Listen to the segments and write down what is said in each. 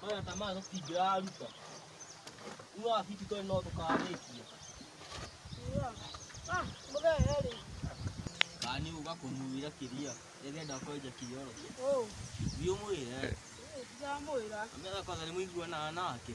Maya ta maya tũtingĩraruta. Uno afiti tũrĩ no tũkarĩkia. Ah, mũthee rĩ. Kani uga kũmuira kĩria. Ĩgenda kwenja kĩoro. Oh, Thiĩ ũmwĩre. ndamwĩra. Amera kwanza nĩ mũiguana nake.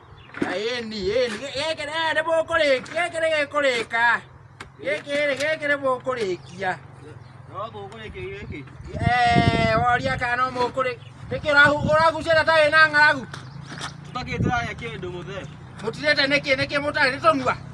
Ĩni, ĩni, gĩkĩ nĩ- nĩ mũkũrĩkia, gĩkĩ nĩ gĩkũrĩka. Gĩkĩ rĩ, gĩkĩ nĩ mũkũrĩkia. No tũkũrĩkia gĩkĩ. Eh, woria kana no mũkũrĩ- nĩkĩ ũrahu- ũragucia na tarĩ na ng'aragu? Tũtakĩtũrarĩa kĩndũ mũthee. Mũtirĩte nĩkĩ, nĩkĩ mũtarĩ, nĩ tũnua?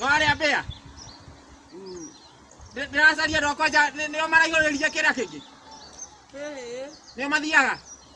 Warĩa mbĩa. Ndĩ- Ndĩracaria andũ akwa nja nĩ- nĩo maraihũrĩria kĩrĩa kĩngĩ. Nĩo mathiaga.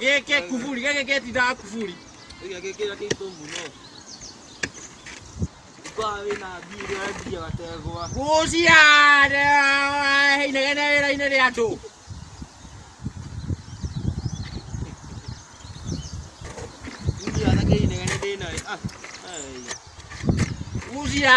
geke kuburi geke getindaga kuburi guciare inegene wĩra-inĩ rĩa andũ gucia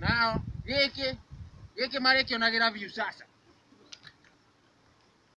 Nao gĩkĩ gĩkĩ marĩkĩonagĩra view sasa.